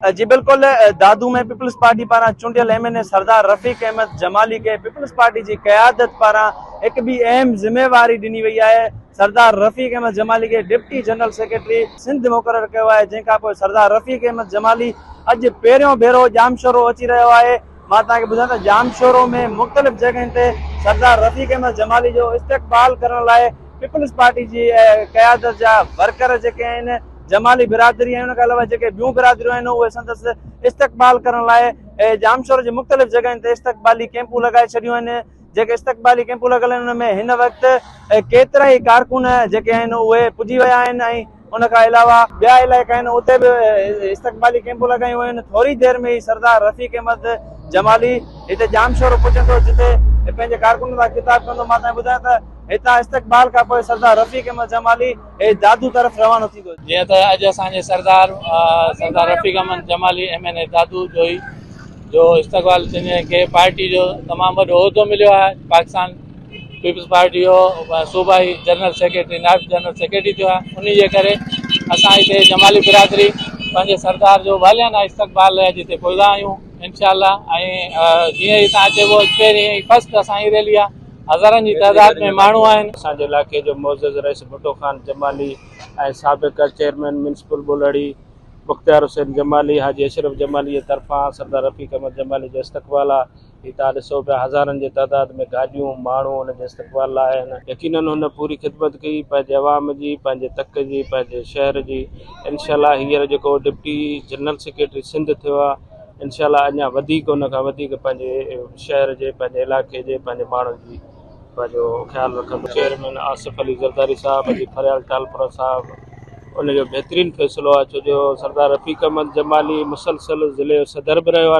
جي بلڪل، Dadu ۾ Peoples Party پاران چونڊيل M N A Sardar Rafiq Ahmed Jamali کي پيپلز پارٽي جي قيادت پاران هڪ ٻي اهم ذميواري ڏني وئي آهي، سردار رفيق احمد جمالي کي ڊپٽي جنرل سيڪريٽري سنڌ مقرر ڪيو آهي جنهن کانپوء سردار رفيق احمد جمالي اڄ پهريون ڀيرو ڄامشورو اچي رهيو آهي. مان توهان کي ٻڌان ته ڄامشورو ۾ مختلف جڳهين تي سردار رفيق احمد جمالي جو استقبال ڪرڻ لاء پيپلز پارٽي جي قيادت جا ورڪر جيڪي آهن جمالي برادري ۽ ان کان علاوه جيڪي ٻيون برادريون آهن اهي سندس استقبال ڪرڻ لاء ڄامشورو جي مختلف جڳهين تي استقبالي ڪيمپون لڳائي ڇڏيون آهن جيڪي استقبالي ڪيمپون لڳل آهن ان ۾ هن وقت ڪيترا ئي ڪارڪن جيڪي آهن اهي پڄي ويا آهن ۽ ان کان علاوه ٻيا علائقا آهن اتي به استقبالي ڪيمپون لڳايون ويون آهن ٿوري دير ۾ ئي سردار رفيق احمد جمالي هتي ڄامشورو پهچندو جتي پنهنجي ڪارڪنن سان خطاب ڪندو مان توهان کي ٻڌايان ته هتان استقبال کان پوء سردار رفيق احمد جمالي هي دادو طرف روانو ٿيندو جيئن ته اڄ اسان جي Sardar Sardar Rafiq Ahmed Jamali M N A Dadu Johi جو استقبال ٿيندي جنهن کي پارٽي جو تمام وڏو عهدو مليو آهي پاڪستان پيپلز پارٽي جو صوبائي جنرل سيڪريٽري نائب جنرل سيڪريٽري ٿيو آهي ان جي ڪري اسان هتي جمالي برادري پنهنجي سردار جو واليانه استقبال لاء جتي پوئدا آهيون انشاء الله ۽ جيئن ئي تان اچي پوء پهرين ۽ فرسٽ اسان جي ريلي آهي هزارن جي تعداد ۾ ماڻهو آهن اسان جي علائقي جو معزز رئيس ڀٽو خان جمالي ۽ سابق چيئرمين ميونسپل ٻولهڙي مختيار حسين جمالي حاجي اشرف جمالي جي طرفان سردار رفيق احمد جمالي جو استقبال آهي هتان ڏسو پيا هزارن جي تعداد ۾ گاڏيون، ماڻهو هن جي استقبال لاء آيا آهن. يقينن هن پوري خدمت ڪئي پنهنجي عوام جي، پنهنجي تڪ جي، پنهنجي شهر جي. انشاء الله هينئر جيڪو ڊپٽي جنرل سيڪريٽري سنڌ ٿيو آهي انشاء الله اڃا وڌيڪ ان کان وڌيڪ پنهنجي شهر جي، پنهنجي علائقي جي، پنهنجي ماڻهن جي پنهنجو خيال رکندو. چيئرمين آصف علي زرداري صاحب جي فريال ٽالپرا صاحب ان جو بهترين فيصلو آهي ڇو جو سردار رفيق احمد جمالي مسلسل ضلعي جو صدر به رهيو آهي.